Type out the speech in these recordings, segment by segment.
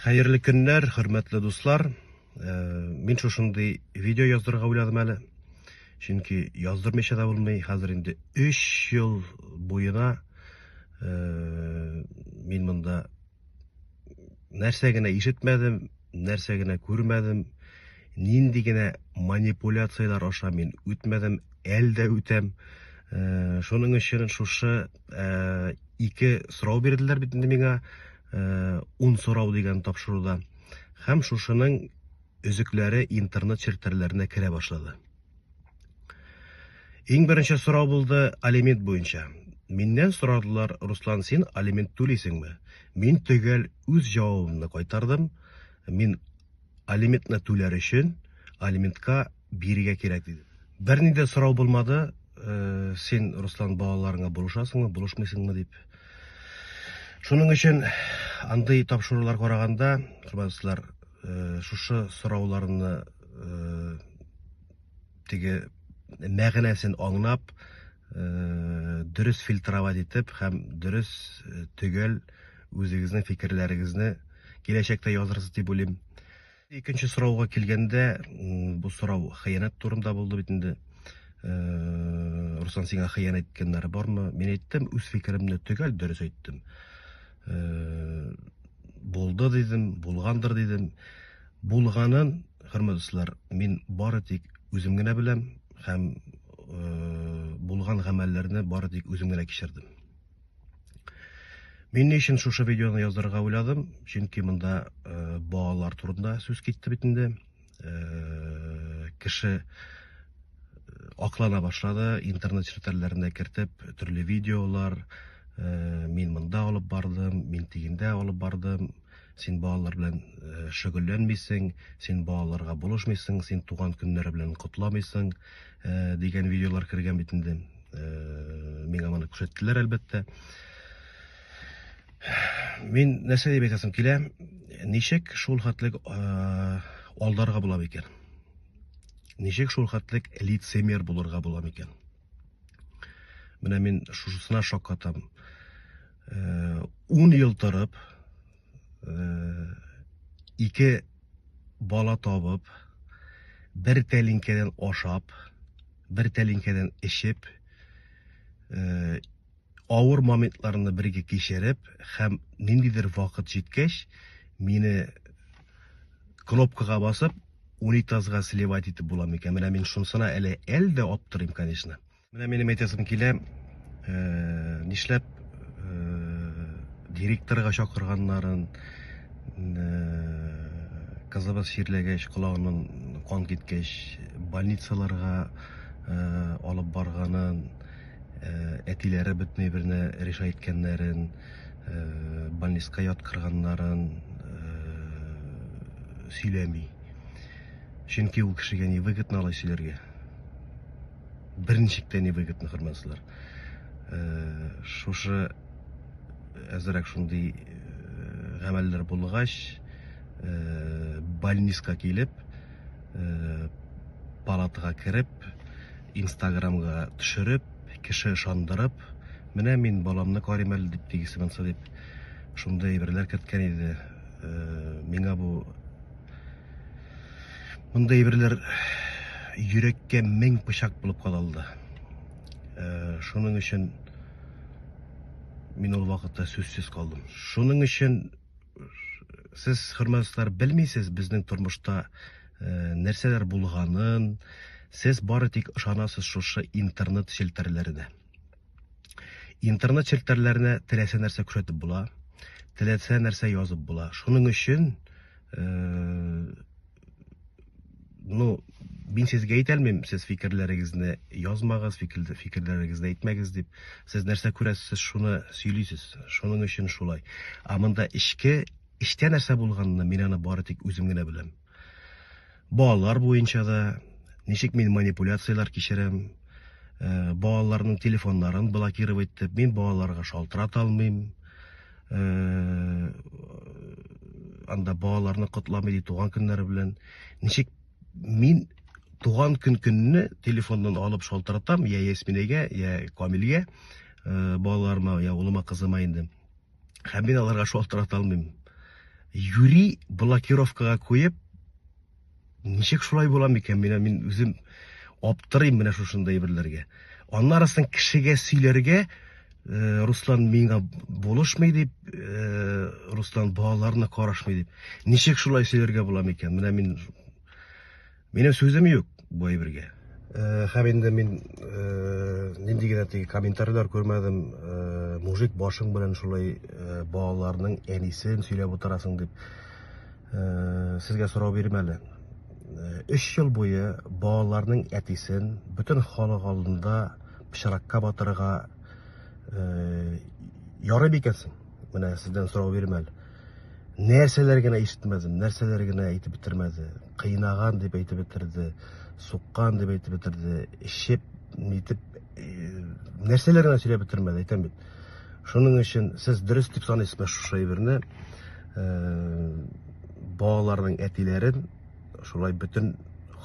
Хәерле көннәр, хөрмәтле дуслар. Э, мин шушындый видео яздырырга уйладым әле. Чөнки яздырмыйча да булмый. Хәзер инде 3 ел буена э, мин монда нәрсә генә ишетмәдем, нәрсә генә күрмәдем, нинди генә манипуляцияләр аша мин үтмәдем, әлдә үтәм. Э, шуның өчен шушы Э, ике сорау бирделәр бит инде миңа э, ун сорау дигән тапшыруда һәм шушының өзекләре интернет челтәрләренә керә башлады иң беренче сорау булды алимент буенча миннән сорадылар руслан син алимент түлисеңме мин төгәл үз җавабымны кайтардым мин алиментны түләр өчен алиментка бирергә кирәк диде. Берни дә сорау булмады, э, син, Руслан, балаларыңа булышасыңмы, булышмыйсыңмы дип. Шуның өчен андый тапшырулар караганда, хөрмәтләр, э, шушы сорауларны э, теге мәгънәсен аңнап, э, дөрес фильтровать итеп һәм дөрес э, төгәл үзегезнең фикерләрегезне киләчәктә язырсыз дип уйлыйм. Икенче сорауга килгәндә, бу сорау хыянәт турында булды бит инде. Руслан, сиңа хыянәт иткәннәре бармы? Мин әйттем, үз фикеремне төгәл дөрес әйттем. Булды дидем, булгандыр дидем. Булганын, хөрмәтләр, мин бары тик үзем генә беләм һәм булган гамәлләрне бары тик үзем генә кичердем. Мин ни өчен шушы видеоны язырга уйладым? Чөнки монда э, балалар турында сүз китте бит инде. Э, кеше э, аклана башлады, интернет челтәрләренә кертеп төрле видеолар, мин монда алып бардым, мин тигендә алып бардым, Син балалар белән шөгыльләнмисең, син балаларга булышмыйсың, син туган көннәре белән котламыйсың, дигән видеолар кергән бит инде. Миңа моны күрсәттеләр, әлбәттә. Мин нәрсә дип әйтәсем килә, ничек шул хәтлек алдарга була микән? Ничек шул хәтлек лицемер булырга була микән? Менә мин шушысына шаккатам. 10 ел торып, ике бала табып, бер тәлинкәдән ашап, бер тәлинкәдән эчеп, Авыр моментларны бергә кичереп һәм ниндидер вакыт җиткәч, мине кнопкага басып, унитазга сливать итеп була микән? Менә мин шунысына әле әле дә аптырыйм, конечно. Менә минем әйтәсем килә, э, нишләп э, директорга чакырганнарын, э, кызыбыз чирләгәч, колагыннан кан киткәч, больницаларга э, алып барганын, әтиләре бөтенләй берне решай иткәннәрен, больниска яткырганнарын сөйләми. Чөнки ул кешегә не выгодно алай сөйләргә. Берничек тә не выгодно, хөрмәтләр. Шушы әзрәк шундый гамәлләр булгач, больниска килеп, палатага кереп, Инстаграмга төшереп, кеше ышандырып, менә мин баламны карыйм әле дип тигесе монсы дип шундый әйберләр керткән иде. Э, миңа бу мондый әйберләр йөрәккә мең пычак булып кадалды. Э, шуның өчен мин ул вакытта сүзсез калдым. Шуның өчен сез хөрмәтләр белмисез безнең тормышта э, нәрсәләр булганын сез бары тик ышанасыз шушы интернет челтәрләренә интернет челтәрләренә теләсә нәрсә күрсәтеп була теләсә нәрсә язып була шуның өчен э, ну мин сезгә әйтәлмим сез фикерләрегезне язмагыз фикерләрегезне әйтмәгез дип сез нәрсә күрәсез сез шуны сөйлисез шуның өчен шулай ә монда эчке эчтә нәрсә булганны мин аны бары тик үзем генә беләм балалар буенча да ничек мин манипуляцияләр кичерәм ә, балаларның телефоннарын блокировать итеп мин балаларга шалтырата алмыйм э, анда балаларны котламый ди туган көннәре белән ничек мин туган көн көнне телефоннан алып шалтыратам я ясминәгә я камилгә э, балаларыма я улыма кызыма инде һәм мин аларга шалтырата алмыйм юри блокировкага куеп Ничек шулай була микән? Менә мин үзем аптырыйм менә шушында әйберләргә. Аннарысын кешегә сөйләргә э, Руслан миңа булышмый дип, э, Руслан балаларына карашмый дип. Ничек шулай сөйләргә була микән? Менә мин Минем сүзем юк бу әйбергә. Э, һәм инде мин э, нинди генә теге комментарийлар күрмәдем, э, мужик башың белән шулай балаларның әнисен сөйләп утырасың дип. Сезгә сорау бирим әле. Өч ел буе балаларның әтисен бөтен халык алдында пычракка батырырга ярый бикәсең? Менә сездән сорау бирим әле. Нәрсәләр генә ишетмәдем, нәрсәләр генә әйтеп бетермәде. Кыйнаган дип әйтеп бетерде, суккан дип әйтеп бетерде, эчеп, нитеп, нәрсәләр генә сөйләп бетермәде, әйтәм бит. Шуның өчен сез дөрес дип саныйсызмы шушы әйберне? балаларның әтиләрен шулай бөтен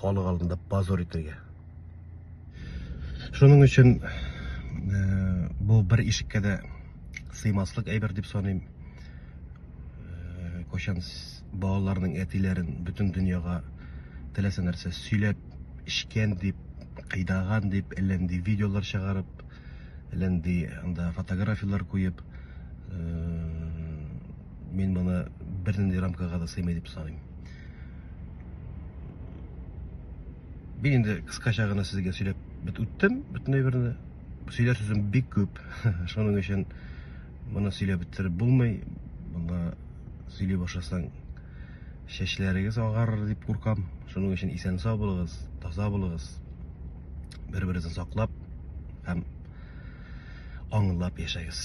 халык алдында позор итәргә шуның өчен бу бер ишеккә дә сыймаслык әйбер дип саныйм кайчан балаларның әтиләрен бөтен дөньяга теләсә нәрсә сөйләп эчкән дип кыйдаган дип әллә нинди видеолар чыгарып Лен ди анда фотографияләр куеп, мин моны бернинди рамкага да сыймый дип саныйм. Мин инде кыскача гына сезгә сөйләп бит үттем бөтен әйберне. Сөйләр сүзем бик күп. Шуның өчен моны сөйләп бетереп булмый. Монда сөйли башласаң чәчләрегез агарыр дип куркам. Шуның өчен исән-сау булыгыз, таза булыгыз. бер берегезне саклап һәм аңлап яшәгез